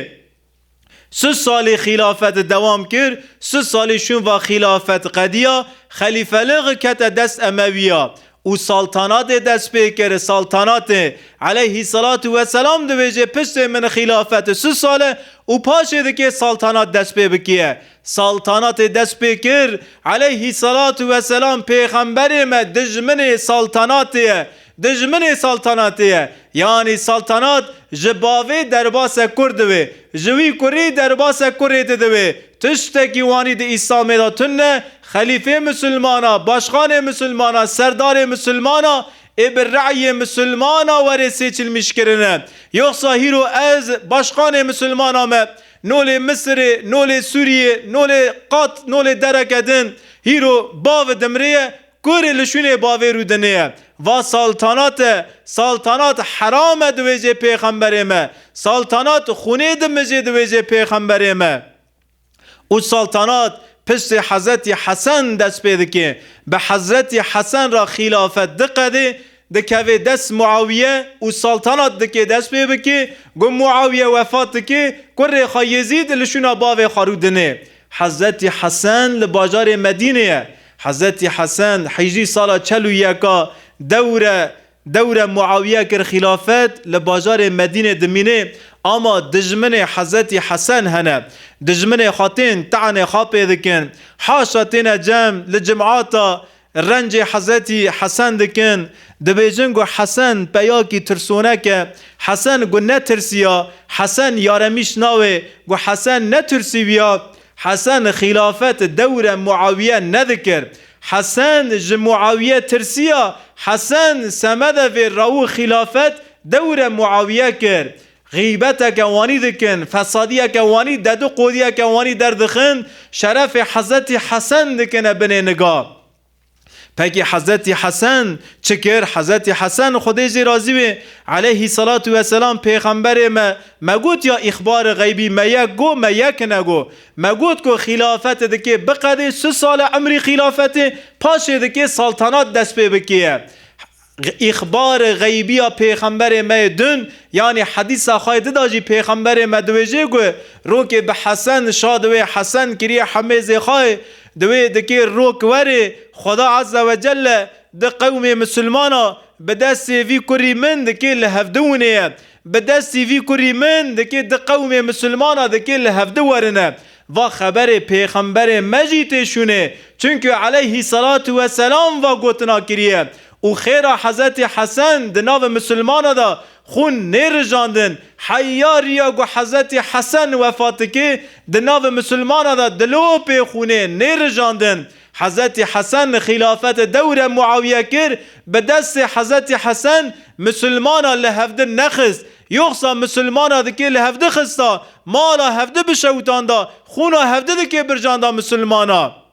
[SPEAKER 1] Sı salê xîlafet dewam kir, sı salê şunva xîlafet qediya, xelîfelığı kete dest Emewiya û saltanatê dest pê kir, saltanatê eleyhîssalatu wesselam divêjê piştê min xîlafet sı sal e û paşê dikê saltanat dest pê bikîye. Saltanatê dest pê kir, eleyhîssalatu wesselam pêxemberê me dijminê saltanatê ye, Dijminê saltanatê ye. Yanî saltanat ji bavê derbase kur divê, ji wî kurî derbase kurê didivê. Tiştekî wanî di Îslamê de tune, xelîfê misilmana, başxanê misilmana, serdarê misilmana ê bi re'yê misilmana were sêçilmîş kirine. Yoxsa hîro ez, başxanê misilmana me, no lê Misirê, no lê Sûriyê, no lê qat no lê dereke din, hîro bav dimrê ye, Kurê li şûnê bavê rûdinê ye. Va saltanat e, saltanat heram e di wêjê pêxemberê me, saltanat xûnê dimijê di wêjê pêxemberê me. Û saltanat piştî Hezretî Hesen dest pê dike. Bi Hezretî Hesen re xîlafet diqedê, dikeve dest Muawiye û saltanat dike dest pê bike. Ku Muawiye wefat dike, kurê xwe Yezîd li şûna bavê xwe rûdinê. Hezretî Hesen li bajarê Medînê ye. Hezetî Hesen Hicrî sala çel û yeka dewre dewre Muawiye kir xîlafet li bajarê Medînê dimînê ama dijminê Hezetî Hesen hene dijminê xwe tên te'nê xwe pê dikin haşa têne cem li cimata rencê Hezetî Hesen dikin dibêjin ku Hesen peyakî tirsonek e Hesen ku netirsiya Hesen yaremîş nawe ku Hesen netursîviya Hesen xîlafet dewre Muawiye nedikir. Hesen ji Muawiye tirsiya. Hesen semedevê rawu xîlafet dewre Muawiye kir. Xîbeteke wanî dikin, fesadiyeke wanî, dediqodiyeke wanî derdixin, şerefê Hezretî Hesen dikine binê niga. Peki Hezretî Hesen çi kir? Hezretî Hesen, Xwedê jê razî wê, eleyhî selatû ve selam, Pêxemberê me, me got ya îxbarê xeybî me yek go, me yekine go. Me got ku xîlafetê dikê biqedê, si sal e imrî xîlafetê, paşê dikê saltanat dest pê bikêye. Îxbarê xeybî ya Pêxemberê me yê din, yanî hedîsa xwe yê di de jî Pêxemberê me diwêjê ku rokê bi Hesen, şa di wê Hesen kirî hemêzê xwe yê, di wê dikê rok werê, Xweda Eze we Celle di qewmê misilmana bi destê vî kurî min dikê li hevdi winê ye, bi destî vî kurî min dikê di qewmê misilmana dikê li hevdi werine. Va xeberê pêxemberê me jî tê şûnê, çunku eleyhî selatu we selam va gotina kiriye û xêra Hezretî Hesen di navê misilmana de xûn nê rijandin, heya riya ku Hezretî Hesen wefat dike di navê misilmana de dilopê xûnê nê rijandin. Hezretî Hesen xîlafetê dewre Muawiye kir, bi destê Hezretî Hesen misilmana li hevdin nexist, Yoxsa misilmana dikê li hevdi xista, mala hevdi bişewitanda, xûna hevdi dikê bircanda misilmana.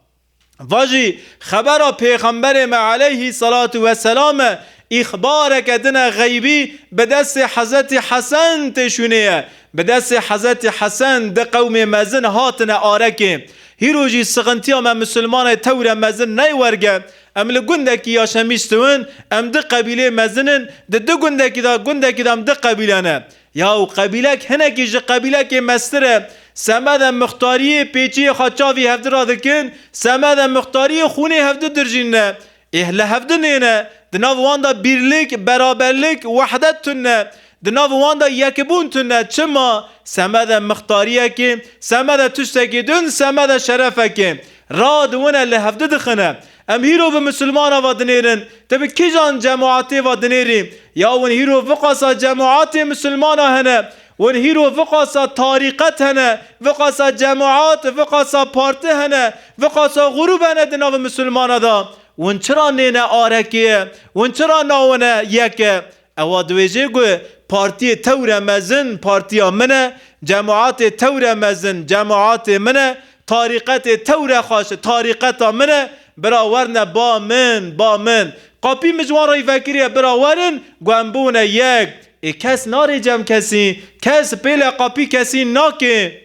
[SPEAKER 1] Va jî xebera pêxemberê me aleyhî selatû ve selam e, îxbareke din e xeybî bi destê Hezretî Hesen tê şûnê ye. Bi destê Hezretî Hesen di qewmê mezin hatine arekê. Hîro jî sixintiya me misilmanê tewre mezin ney werge, Em li gundekî ya Şemîştiwin, em du qebîleyê mezin in, di du gundekî de, gundekî de em du qebîle ne. Ya û qebîlek hinekî ji qebîlekê meztir e. Semed em mixtariyê pêçiyê xwe çavî hevdu re dikin, semed em mixtariyê xûnê hevdu dirjîn ne. Êh li hevdu nêne. Di nav wan de bîrlik, beraberlik, wehdet tune. Di nav wan de yekbûn tune. Çima? Semed e mixtariyek ê, semed e tiştekê din, semed e şerefek ê. Radiwine li hev didixine. Em hîro vi misilmana ve dinêrin. Ti bi kîjan cemaetê ve dinêrî? Ya win hîro viqasa cemaetê misilmana hene? Win hîro viqasa tarîqet hene? Viqasa cemaet, viqasa parti hene? Viqasa grûb hene di navê misilmana de? Win çira nêne arekê? Win çira navine yek e? Ewa dibêje ku partiyê tewre mezin partiya min e, cemaatê tewre mezin cemaatê min e, tarîqetê tewre xweş tarîqeta min e, bira werne ba min, ba min. Qapî min ji wan re vekiriye bira werin ku em bûne yek. Ê kes narê cem kesî, kes pêle qapî kesî nake.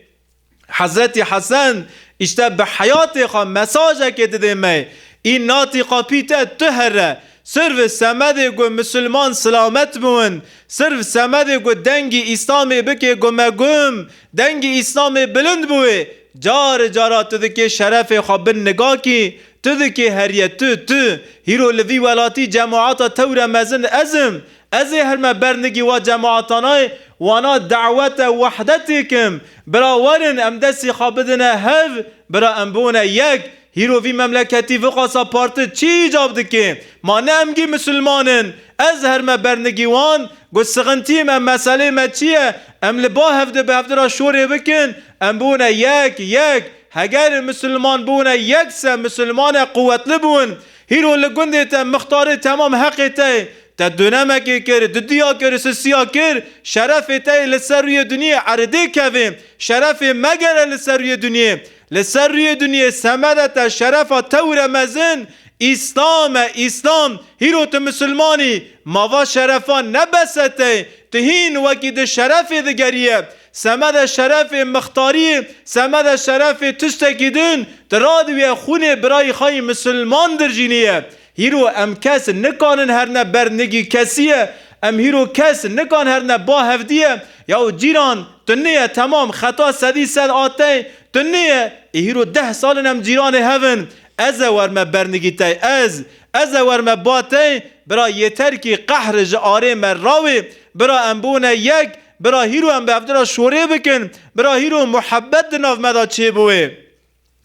[SPEAKER 1] Hezretî Hesen îşte bi heyatê xwe mesajekê didê me, Î natî qapî te tu here, sirv semedê ku misilman silamet biwin, sirv semedê ku dengî Îslamê bikê gumegum, dengî Îslamê bilind biwê, cari cara tu dikê şerefê xwe bin nigakî, tu dikê heriye tu, tu, hîro li vî welatî cemaata tewre mezin ez im, Ez ê hilme bernigî wa cemaatanaê wana dawete wehdetê kim. Bira werin em destî xwe bidine hev, bira em biune yek. Hîro vî memleketî viqasa parti çî îcab dikê? Ma ne emgî misilman in. Ez hilme bernigî wan got sixintîm em meselê me çî ye? Em li ba hevdi bi hevdi ra şorê bikin, em biune yek, yek. Heger misilman biune yek se misilmane quwetli biun. Hîro li gundê te mixtarê temam heqê te ye. Te donemekê kir, didiya kir, sisiya kir, şerefê te yê li ser rûyê dinyê eridê kevê. Şerefê me gere li ser rûyê dinyê. Li ser rûyê dinyê semede te şerefa te wire mezin. Îslam e, Îslam. Hîro tu misilman î. Ma va şerefa ne bese te ye. Tu hîn wekî di şerefê digeriye. Semede şerefê mixtarî, semede şerefê tustekî din, di radwîye xûnê birayî xayî misilman dirjînî ye. Hîro em kes nikanin herne ber nigî kesî ye, em hîro kes nikan herne ba hevdî ye. Yaw cîran, tu niyê temam xeta sedî sed a tey, tu niyê, ê hîro deh sal in em cîranê hev in. Ez e wer me ber nigî tey, ez, ez e wer me ba tey, bira yêter kî qehr ji arê me rawê, bira em bûne yek, Bira hîro em bi ev dira şorê bikin, bira hîro muhebet di nav me de çêbûê.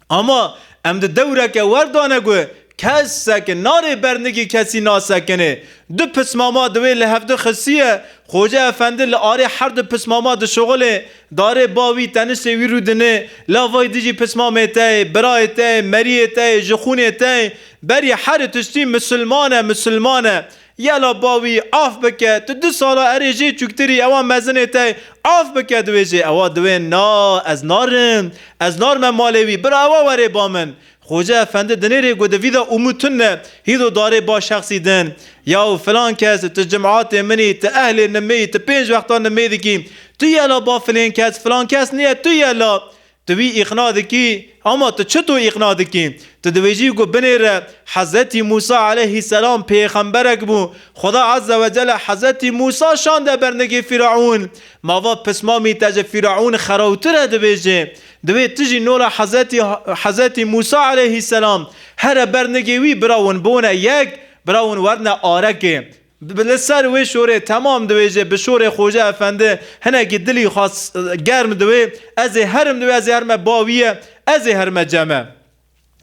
[SPEAKER 1] Ama em di dewreke wer de ne ku kes sekin narê bernigî kesî nasekinê. Du pismama di wê li hevdu xisiye, Xoce Efendi li arê her du pismama dişuxilê, darê ba wî, teniştê wî rûdinê, lavayî dijî pismamê te yê, birayê te yê, meriyê te yê, jixûnê te yê, berî herî tiştî misilman e, misilman e. Yela bawî af bike tu du sala erê jê çûktirî ewa mezinê tey af bike di wê jê ewa di wê na ez narim ez narime malê wî bira ewa werê ba min Xoce efendi dinê rê got di vî de ûmû tun ne hîdo darê ba şexsî din yaw filan kes tu cim'atê min î tu ehlê nimê î tu pênc wexta nimê dikî tu yela ba filên kes filan kes nîye tu yela Tu wî îqna dikî, ema tu çito îqna dikî? Tu dibêjî ku binêre Hezretî Mûsa eleyhî selam pêxemberek bû, Xweda Ezze Wecelle Hezretî Mûsa şande bernigê Fîraûn. Ma va pismamî te ji Fîraûn xerewtir e dibêje. Divê tu jî nola Hezretî Hezretî Mûsa eleyhî selam here bernigê wî birawin bone yek, birawin werne arekê. Bi li ser wê şorê temam diwêje, bi şorê Xoca Efendi hinekî dilî xas germ diwê, Ez ê herim diwê, ez ê herime ba wî ye, ez ê herime ceme.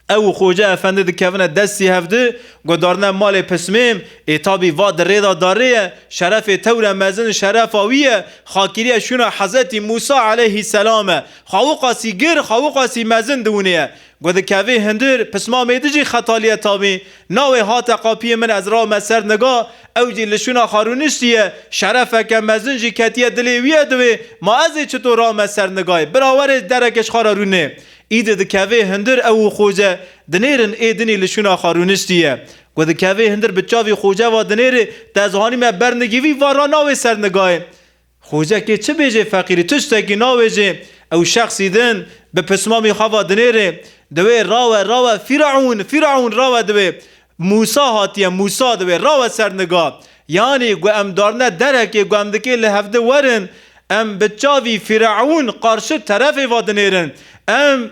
[SPEAKER 1] Ew û Xoca Efendi dikevine destî hev di, guhdarine malê Pismêm, Ê tabî va di rê de darê ye, şerefê tewre mezin şerefa wî ye, xakirîya şûna Hezetî Mûsa eleîhî selam e. Xawiqasî gir, xawiqasî mezin diwinê ye. Ku dikevî hundir, pisma mêdi jî xetaliye tavî. Nawê hate qapiyê min ez rame ser niga, ew jî li şûna xwe rûniştiye. Şerefeke mezin jî ketiye dilê wî ye di wê, ma ez ê çito rame ser nigayê. Bira were dereke ji xwe re rûnê. Îdi dikevê hundir ew û Xoce dinêrin ê dinî li şûna xwe rûniştiye. Ku dikevê hundir bi çavî Xoce ve dinêrê, te ez hanîme ber nigîvî va ra nawê ser nigayê. Xwûce kê çi bêjê feqîrî tiştekî navêjê ew şexsî din bi pismamî xwe va dinêrê di wê rawe rawe fîraûn fîraûn rawe di wê Mûsa hatiye Mûsa di wê rawe ser niga yanî gu em darine derekê gu em dikê li hevdi werin em bi çavî fîraûn qarşi terefê va dinêrin em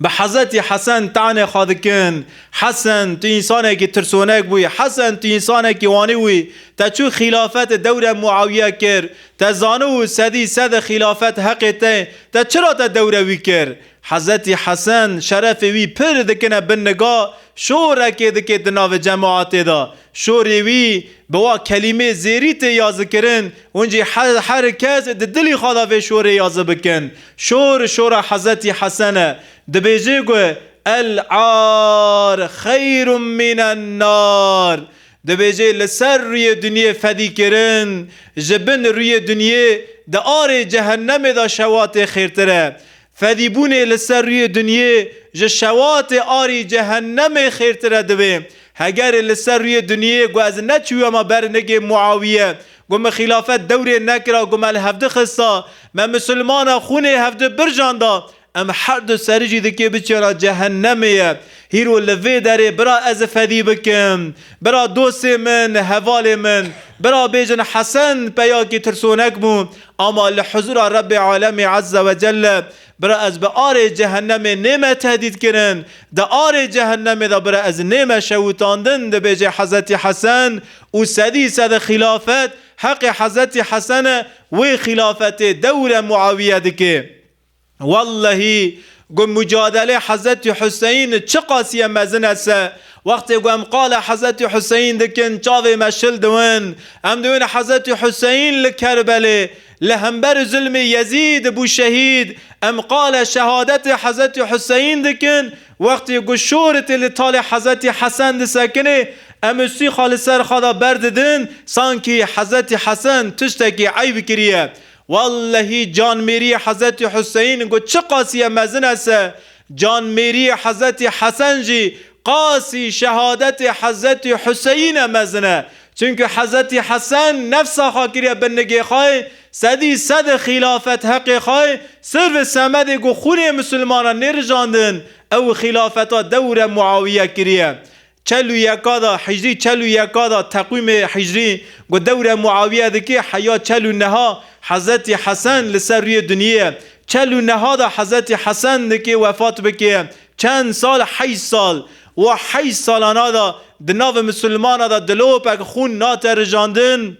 [SPEAKER 1] Bi Hezetî Hesen tanê xwe dikin, Hesen tu însanekî tirsonek bûyî, Hesen tu însanekî wanî wî, te çû xîlafetê dewre Muawiye kir, te zano û sedî sede xîlafet heqê te ye, te çira te dewre wî kir? Hezetî Hesen şerefê wî pir dikine bin niga, şorekê dike di navê cemaetê de, Şorê wî bi wa kelîmê zêrî tê yazikirin, hûn jî her her kes di dilî xwe de vê şorê yazi bikin. Şor, şora Hezretî Hesen e. Dibêje ku, El ar xeyrû mînen nar. Dibêje li ser rûyê dinyê fedîkirin, ji bin rûyê dinyê di arê cehennemê de şewatê xêrtir e. Fedîbûnê li ser rûyê dunyê ji şewatê arî cehennemê xêrtir e divê hegerê li ser rûyê dunyê ku ez neçûye me ber nigê Muawiye ku min xîlafet dewrê nekira ku me li hevdi xista me misilmana xûnê hevdi birjanda em herdu seri jî dikê biçêna cehennemê ye hîro li vê derê bira ez fedî bikim bira dostê min hevalê min bira bêjin Hesen peyakî tirsonek bû Ama li huzûra Rebbê Alemê Ezze ve Celle, bira ez bi arê Cehennemê nême tehdîdkirin, di arê Cehennemê de bira ez nême şewitandin, dibêje Hezretî Hesen û sedî sed xîlafet heqê Hezretî Hesen e, wê xîlafetê dewre Muawiye dike. Wellehî ku mucadelê Hezretî Huseyîn çiqasîye mezin e se wextê ku em qala Hezretî Huseyîn dikin çavê me şil diwin. Em diwin Hezretî Huseyîn li Kerbelê li hember zulmê Yezîd bû şehîd. Em qala şehadetê Hezretî Huseyîn dikin wextê ku şoritê li talê Hezretî Hesen disekinê em ûsîxa li ser xwe de berdidin sankî Hezretî Hesen tiştekî eyb kiriye. Wellehî canmêriyê Hezetî Huseyin got çi qasîye mezin e se, canmêriyê Hezetî Hesen jî qasî şehadetê Hezetî Huseyin e mezin e. Çunku Hezetî Hesen nefsa xwe kiriye bin nigê xwe, sedî sed e xîlafet heqê xwe ye, sirv e semedê ku xûnê misilmanan nêrijandin, ew xîlafeta dewre Muawiye kiriye. Çel û yeka da Hicrî Çel û yeka da teqwîmê Hicrî ku dewre Muawiye dike heya çel û neha Hezretî Hesen li ser rûyê dinyêye. Çel û neha da Hezretî Hesen dike wefat bike. Çend sal Heşt sal. Wa heşt salana da di navê misilmana da dilopek xûn nate rijandin.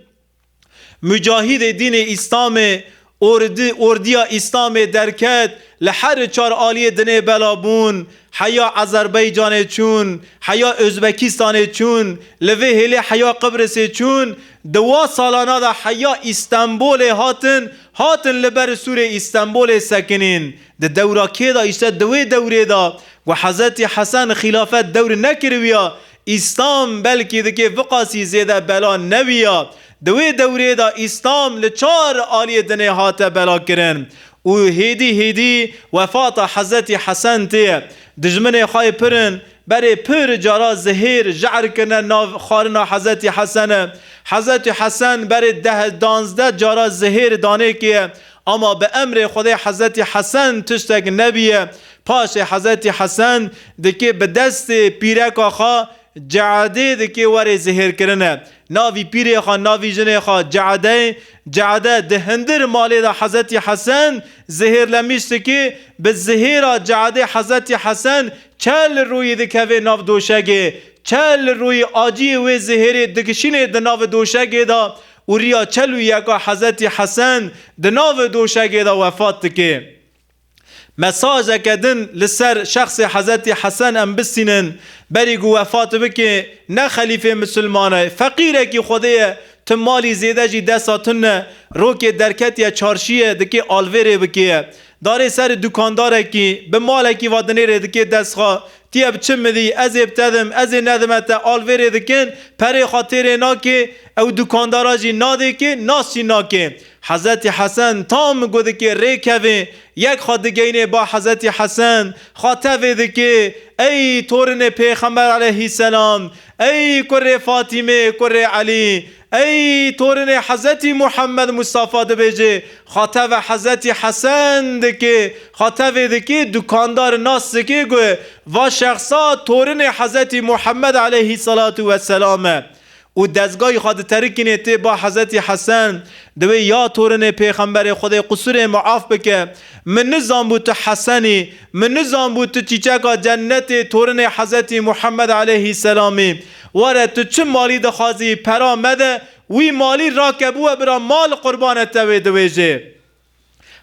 [SPEAKER 1] Mucahîdê dînê Îslamê ordi ordiya Îslamê derket li heri çar aliyê dinê bela bûn heya Ezerbeycanê çûn heya Ozbekistanê çûn li vê hêlê heya Qibrisê çûn di wa salana de heya Îstenbolê hatin hatin li ber sûrê Îstenbolê sekinîn di dewra kê de îşte di wê dewrê de ku Hezetî Hesen xîlafet dewr nekiriwiya Îslam belkî dikê viqasî zêde bela newiya. Di wê dewrê de Îslam li çar aliyê dinê hate belakirin û hêdî hêdî wefata Hezretî Hesen tê. Dijminê xwe yê pirin berê pir cara zihêr, je'r, kirine nav xwarina Hezretî Hesene. Hezretî Hesen berê deh, danzdeh, cara zihêr danê kê Ama bi emrê Xwedê Hezretî Hesen tiştek nebîye. Paşê Hezretî Hesen dikê bi destê pîreka xwe Ceedê dikê werê zihêrkirine. Na vî pîrê xwe na vî jinê xwe Ceedey. Ceede di hindir malê de Hezretî Hesen zihêrlemîş dikê. Bi zihêra Ceedê Hezretî Hesen çel rûyî dikeve nav doşegê. Çel rûyî acîyê wê zihêrê digişînê di navi doşegê de. û riya çel û yeka Hezretî Hesen di navê doşegê de wefat dike. Mesajeke din li ser şexsê Hezretî Hesen em bistînin, berî ku wefat bike ne xelîfê misilman e, feqîrekî xwedê ye, tu malî zêde jî desta tune, rokê derketiye çarşiyê dike alvêrê bike ye. Darê serê dukandarekî, bi malekî va dinê rê dikê destxa, tî ev çi midî, ez ê bitedim, ez ê nedime te al vê rê dikin, perê xwe tê rê nakê, ew dukandara jî nadê kê, nas jî nakê. Hezretî Hesen tam gu dikê rê kevê, yek xwe digeyinê ba Hezretî Hesen, xwe tevê dikê, Ey torinê Pêxember Eleyhîsselam, ey kurê Fatîmê, kurê Elî, Ey torinê Hezetî Muhammed Mustafa dibêjê, xwe tevê Hezetî Hesen dikê, xwe tevê dikê dukandar nas dikê ku va şexsa torinê Hezetî Muhammed eleyhî selatû we selam e û dezgayî xwe diterikînê tê ba Hezetî Hesen diwê ya torinê pêxemberê Xwedê qusûrê muaf bike min nizanbû tu Hesen î min nizanbû tu çîçeka cennetê torinê Hezetî Muhammed eleyhî selamî Were tu çi malî dixwazî pera me de wî malî rake bûwe bira ma li qurbane te wê diwêjê.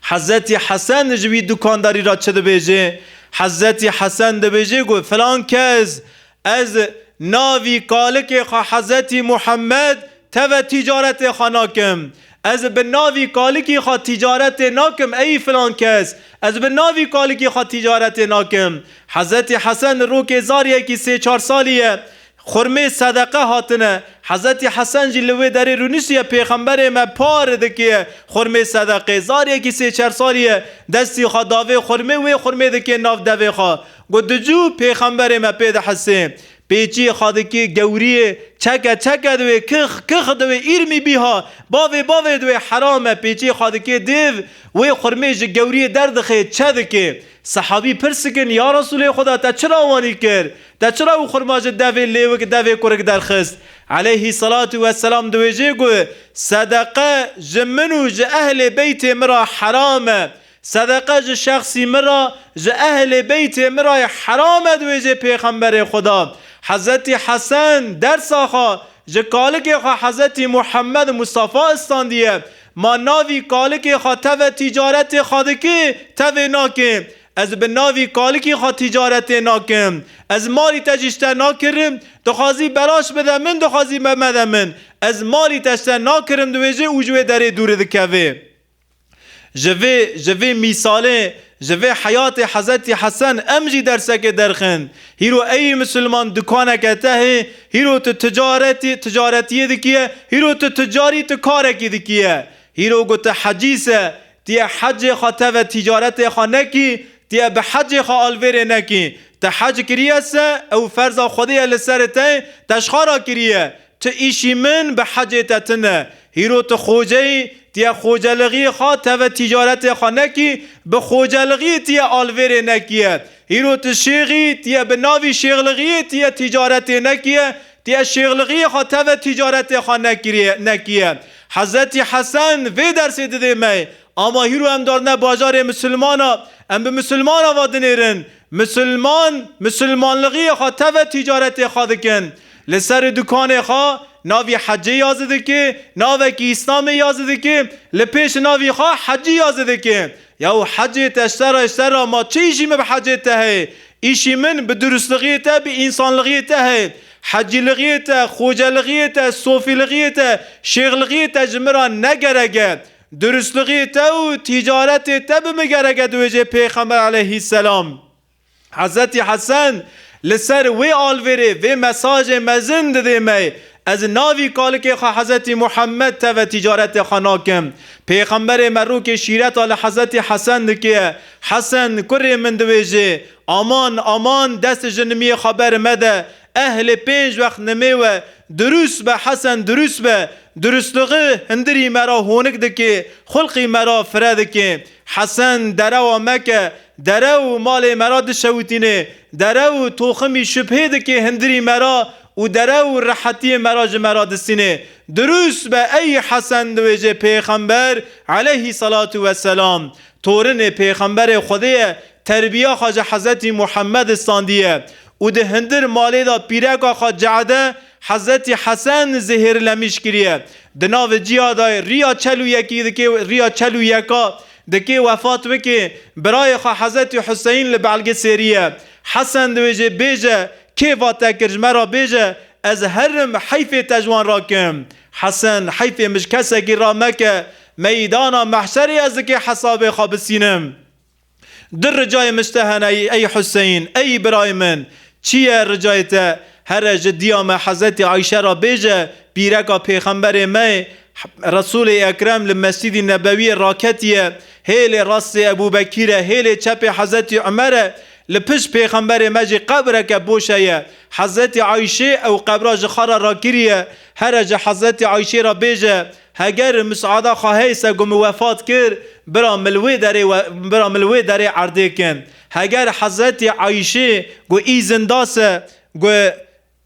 [SPEAKER 1] Hezretî Hesen ji wî dukandarî re çi dibêjê? Hezretî Hesen dibêjê ku filan kes ez navî kalikê xwe Hezretî Muhammed teve tîcaretê xwe nakim. Ez bi navî kalikî xwe tîcaretê nakim ey filan kes, ez bi navî kalikî xwe tîcaretê nakim. Hezretî Hesen li rokê zariyekî sê çar salî ye xurmê sedeqe hatine. Hezretî Hesen jî li wê derê rûniştiye pêxemberê me par dikê xurmê sedeqê. Zariyekî sê çar salî ye destî xwe davê xurmê wê xurmê dikê nav devê xwe. Got dicû pêxemberê me pê dihesê. Pêçiyê xadikê gewriyê çeke çeke diwê kix kix diwê îrmî bîha bavê bavê diwê heram e pêçiyê xadikê dêv wê xurmê ji gewriyê derdixê çe dikê sehabî pirs dikin ya Resûlê Xuda te çira wanî kir te çira wî xurma ji devê lêwik devê kurik derxist eleyhî selatû weselam diwêjê got sedeqe ji min û ji ehlê beytê min re heram e Sedeqe ji şexsî min re, ji ehlê beytê min re heram e di wêjê Pêxemberê xwe de. Hezretî Hesen, dersa xwe, ji kalikê xwe Hezretî Muhammed Mustafa istandiye, Ma navî kalikê xwe teve tîcaretê xwe dikê, tevê nakê. Ez bi navî kalikî xwe tîcaretê nakim. Ez malî te jî ji te nakirim, dixwazî belaş bide min, dixwazî me mede min. Ez malî te ji te nakirim di wêjê û ji wê derê dûri dikevê. Ji vê ji vê mîsalê, ji vê heyatê Hezretî Hesen em jî dersekê derxin. Hîro eyî misilman dukaneke tehê, hîro tu ticaretî ticaretiyê dikiye, hîro tu ticarî tu karekî dikiye. Hîro ku tu hecî se, tu yê hecê xwe teve ticaretê xwe nekî, tu yê bi hecê xwe alvêrê nekî. Tu hec kiriye se, ew ferza Xwedê ye li serê te, te ji xwe re kiriye. Ti îşî min bi hecê te tine. Hîro ti xoceyî, ti ye xocelixîyê xwe teve tîcaretê xwe nekî, bi xocelixîyê ti ye alvêrê nekîye. Hîro ti şêx î, ti ye bi navî şêxlixîyê ti ye tîcaretê nekîye, ti ye şêxlixîyê xwe teve tîcaretê xwe nekîye. Hezretî Hesen vê dersê didê me, ama hîro em darine bajarê misilmana, em bi misilmana va dinêrin, Misilman, misilmanlığiyê xwe teve tîcaretê xwe dikin. Li serê dukanê xwe navî Hecê yazî dike, navekî Îslamê yazî dike, li pêş navî xwe Hecî yazî dike. Yaw Hecê te ştera ji serra ma çi îşî min bi Hecê te heye? Îşî min bi durustlığiyê te, bi însanlığiyê te heye. Hecîlığiyê te, xocelığiyê te, sofîlığiyê te, şêxlığiyê te ji min ra ne gerek e. Duristligî te û tîcaretê te bi min gereke diwêjê Pêxember eleyhîsselam. Hezretî Hesen li ser wê alvêrê vê mesajê mezin didê me, Ez navî kalikê xwe Hezretî Muhemmed teve tîcaretê xwe nakim. Pêxemberê me rûkê şîreta li Hezretî Hesen dike. Hesen, kurê min diwêjê, Aman, aman, dest ji nimiyê xwe ber mede, Eh lê pênc wext nimê we durûs be Hesen durûs be Durûsliği hindirî me ra honik dikê Xulqî me ra fire dikê Hesen derewa me ke derew û malê me ra dişewitînê Derew û toximî şubhê dikê hindirî me ra û derew û rehetiyê me ra ji me ra distînê Durûs be ey Hesen diwêjê Pêxember eleyhî selatû weselam Torinê Pêxemberê Xwedê ye Terbiya xwe ji Hezretî Muhemmed standîye û di hindir malê de pîreka xwe Ce'de, Hezretî Hesen, zehêrlemîş kiriye. Di navê cîya de rîya çel û yekî dikê rîya çel û yeka dikê wefat bikê, birayê xwe Hezretî Huseyn li belge sêriye. Hesen di wê jê bêje, Kê va te kir ji me re bêje, ez herim heyfê te ji wan re kim. Hesen, heyfê min ji kesekî re meke, meydana mehşerê ez di kê hesabê xwe bisînim. Di ricayê min şte hene ey Huseyn, ey birayê min, çi ye ricayê te? Here ji diya me Hezretî Ayşe re bêje, pîreka pêxemberê me yê, Resûlê Ekrem li Mescîdî Nebewîyê raketiye, hêlê rastê Ebûbekîr e, hêlê çepê Hezretî Umer e, li pişt pêxemberê me jî qebreke boş heye. Hezretî Ayşê ew qebra ji xwe re rakiriye, here ji Hezretî Ayşê re bêje, Heger misada xwe hey se ku min wefat kir, bira min li wê derê we bira min li wê derê erdê kin. Heger Hezretî Ayîşê ku îzin da se ku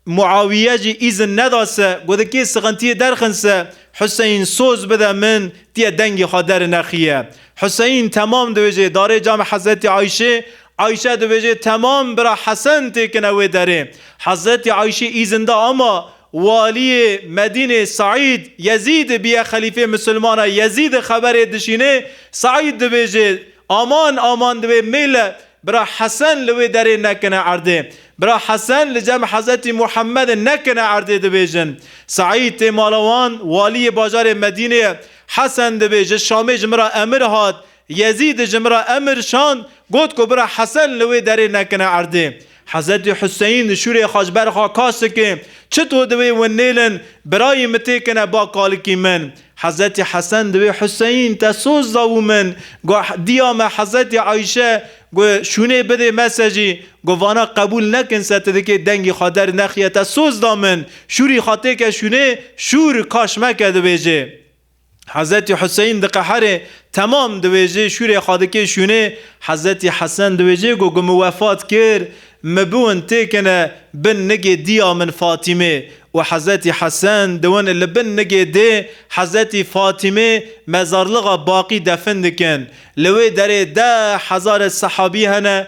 [SPEAKER 1] Muawîye jî îzin neda se ku di kê sixintiyê derxin se Huseyîn soz bide min tîye dengê xwe derinexiye. Huseyîn temam dibêje darê camê Hezretî Ayîşê. Ayîşe dibêje temam bira Hesen têkine wê derê. Hezretî Ayîşê îzin da ama Waliyê Medînê Seîd Yezîd bi yê xelîfê Misilmana Yezîd xeberê dişînê, Seîd dibêje, Aman, aman di wê mêle bira Hesen li wê derê nekine erdê. Bira Hesen li cem Hezetî Muhemedê nekine erdê dibêjin. Seîd tê mala wan, waliyê bajarê Medînê ye. Hesen dibêje, Şamê ji min ra emir hat, Yezîd ji min re emir şand, got ku bira Hesen li wê derê nekine erdê. Hezretî Huseyîn li şûrê xwe ji ber xwe kaş dike, Çito di wê win nêlin, birayî min têkine ba kalikî min. Hezretî Hesen di wê Huseyîn te soz da û min got, Diya me Hezretî Ayşe got, Şûnê bidê me se jî got, Vana qebûl nekin se tu dikê dengî xwe der nexiye te soz da min, şûrî xwe têke şûnê, şûr kaş meke dibêje. Hezetî Huseyin diqehere, temam diwêjê, şûrê xwe dike şûnê, Hezetî Hesen diwêjê ku ku min wefat kir, min biwin têkine bin nigê diya min Fatîmê û Hezetî Hesen diwin li bin nigê dê Hezetî Fatîmê mezarlixa Baqî defin dikin. Li wê derê deh hezare sehabî hene